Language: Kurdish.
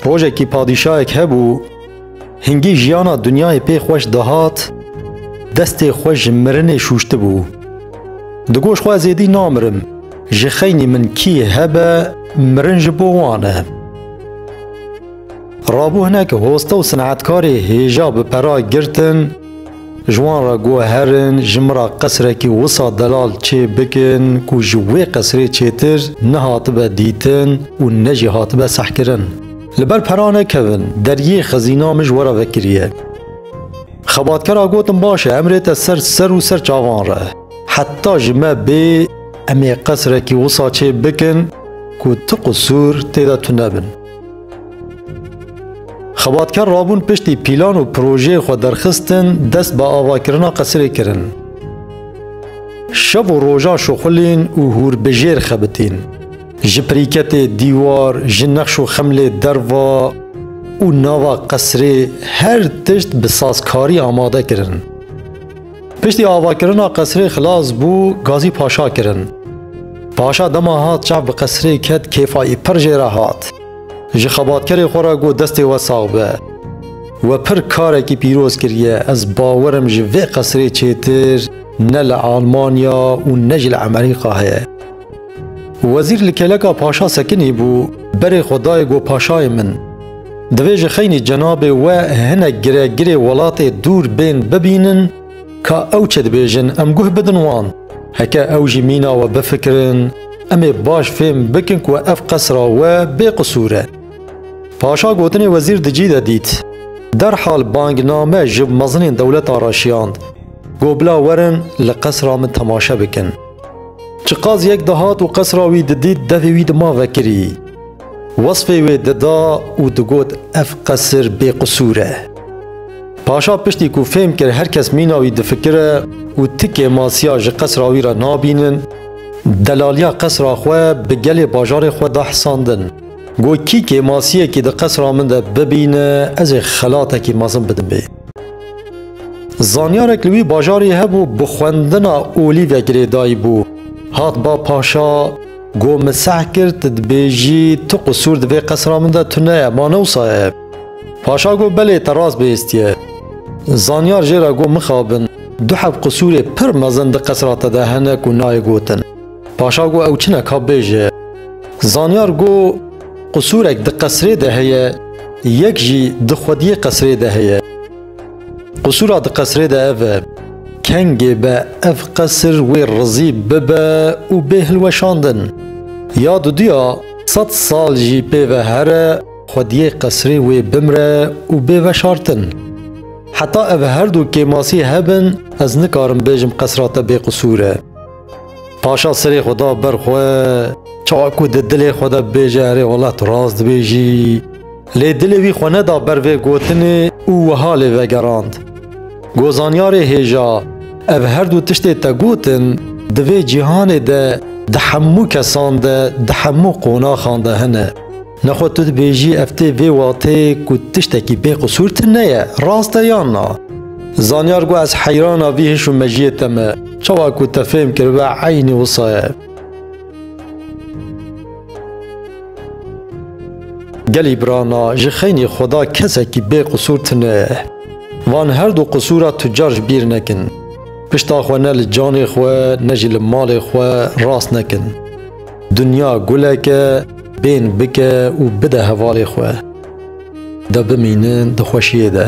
Rojekî padîşayek hebû, hingî jiyana dinyayê pê xweş dihat, destê xwe ji mirinê şûştibû. Digoş xwe ez êdî namirim, ji xeynî min kî hebe mirin ji bo wan e. Rabû hinek hoste û sinetkarê hêja bi pera girtin, Ji wan re guherin ji min re qesrekî wisa delal çê bikin ku ji wê qesrê çêtir ne hatibe dîtin û ne jî hatibe sehkirin. Li ber pera nekevin, deriyê xezîna min ji we re vekiriye. Xebatkera gotin baş e, em rê te ser ser û ser çavan re. Heta ji me bê em ê qesrekî wisa çê bikin ku tu qisûr tê de tunebin. Xebatkar rabûn piştî pîlan û projeyê xwe derxistin dest bi avakirina qesirê kirin. Şev û rojan şuxulîn û hûr bi jêr xebitîn. Ji pirîketê dîwar, ji nex û xemlê derva û nava qesirê her tişt bi sazkarî amade kirin. Piştî avakirina qesirê xilas bû gazî paşa kirin. Paşa dema hat çav bi qesirê ket kêfayî pir jê re hat. Ji xebatkerê xwe re got destê we sax be. We pir karekî pîroz kiriye ez bawer im ji vê qesirê çêtir ne li Almanya û ne jî li Emerîka heye. Wezîr li keleka paşa sekinî bû, berê xwe dayê got paşayê min. Divê ji xeynî cenabê we hinek giregirê welatê dûr bên bibînin ka ew çi dibêjin em guh bidin wan. Heke ew jî mîna we bifikirin, em ê baş fêm bikin ku ev qesra we bê qisûr e. Paşa gotinê wezîr di cî de dît. Derhal bangname ji mezinên dewleta re şiyand. Got bila werin li qesra min temaşe bikin. Çi qas yek dihat û qesra wî didît devê wî dima vekirî. Wesfê wê dida û digot ev qesir bêqisûr e. Paşa piştî ku fêm kir her kes mîna wî difikire û ti kêmasiya ji qesra wî re nabînin, delaliya qesra xwe bi gelê bajarê xwe da hisandin. Got kî kêmasiyekî di qesra min de bibîne ez ê xelatekî mezin bidim bê. Zanyarek li wî bajarê hebû bi xwendina olîvek girêdayî bû. Hat ba paşa got min seh kir tu dibêjî tu qisûr di vê qesra min de tune ye ma ne wisa ye. Paşa got belê te rast bihêstiye. Zanyar jê re got mixabin du hev qisûrê pir mezin di qesra te de hene ku nayê gotin. Paşa got ew çi ne ka bêje. Zanyar got Qusûrek di qesrê de heye, yek jî di xwediyê qesrê de heye. Qusûra di qesrê de ev e, kengê be ev qesir wê rizî bibe û bê hilweşandin. Ya duduya sed sal jî pê ve here xwediyê qesrê wê bimre û bê veşartin. Heta ev her du kêmasî hebin ez nikarim bêjim qesra te bêqusûr e. Paşa serê xwe da ber xwe. Çawa ku di dilê xwe de bibêje erê wala tu rast dibêjî. Lê dilê wî xwe neda ber vê gotinê û wiha lê vegerand. Gozanyarê hêja, ev her du tiştê te gotin di vê cîhanê de di hemû kesan de, di hemû qonaxan de hene. Nexwe tu dibêjî ev tê vê watê ku tiştekî bê qisûr tine ye, rast e yan na? Zanyar got ez heyrana vî hiş û mejiyê te me, çawa ku te fêm kiribe eynî wisa ye. Gelî birana ji xeynî xwe da kesekî bê qisûr tine ye. Van her du qisûra tu car ji bîr nekin. Pişta xwe ne li canê xwe ne jî li malê xwe rast nekin. Dinya guleke bên bike û bide hevalê xwe. De bimînin di xweşiyê de.